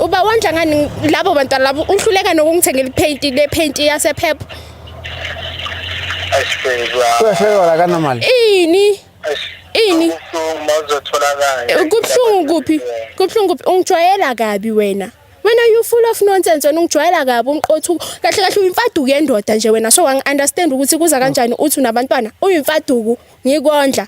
uba wondla ngani labo bantwana labo uhluleka nokungithengela iphenti le phenti yasephepha kwehlekela kanamali ini ini kubuhlungu kuphi kubuhlungu kuphi ungijwayela kabi wena wena you full of nonsense wena ungijwayela kabi umqothu kahle kahle uyimfaduku yendoda nje wena so wangi-understand ukuthi kuza kanjani uthi unabantwana uyimfaduku ngikondla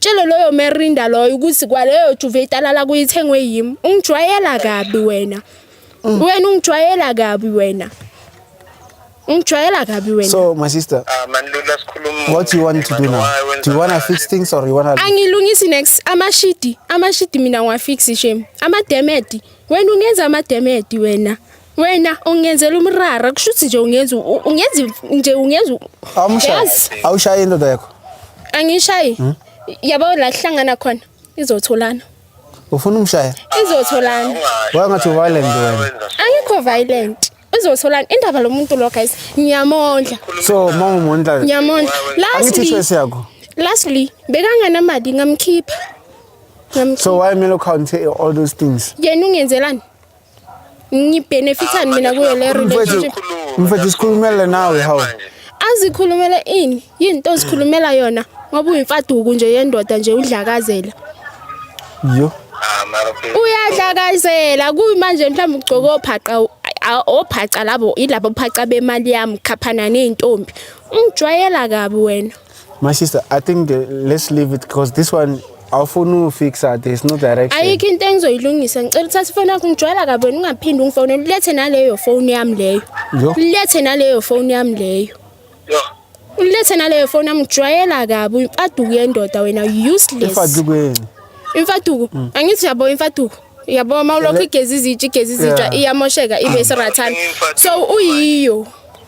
Tshele loyo merinda loyo ukuthi kwaleyo juve italala kuyithengwe yimi. Ungijwayela kabi wena. Mm. Wena ungijwayela kabi wena. Ungijwayela kabi wena. So my sister. Ah man Lula sikhuluma. What do you want to do now? Do you want to fix things or you want to Angilungisi next amashidi. Amashidi mina ngiwafix shame. Ama demedi. Wena ungenza ama demedi wena. wena ungenzela umrara kusho ukuthi nje ungenza ungenza nje ungenza awumshayi awushayi indoda yakho angishayi hmm? yabo la kuhlangana khona izotholana ufuna umshaya izotholana wangathi violent wena angikho violent uzotholana indaba lo muntu lo guys ngiyamondla so mama umondla ngiyamondla lastly choice yakho lastly bekanganamali ngamkhipha ngamkhipha so why melo count all those things yena ungenzelani ngibenefithani mina kuyo le relationship mfethu sikhulumele nawe hawu azikhulumele ini yinto ozikhulumela yona ngoba uyimfaduku nje yendoda nje udlakazela yo uyadlakazela kuyimanje mhlawumbe ugcoke ophaqa ophaca labo ilabo phaca bemali yami khaphana nezintombi ungijwayela kabi wena My sister, I think uh, let's leave it because this one awufuni ufixa there's no direction. ayikho into engizoyilungisa ngicela uthathe ifoni yakho ngijwayela kabi wena ungaphinde ungifonele ulethe naleyo foni yami leyo Yo. ulethe naleyo foni yami leyo Yo. ulethe naleyo foni yami ngijwayela kabi imfaduko yendoda wena useless Ifadukweni. imfaduko angithi yabo imfaduko yabo uma ulokhu igeza izitsha igeza izitsha iyamosheka ibe sirathana so uyiyo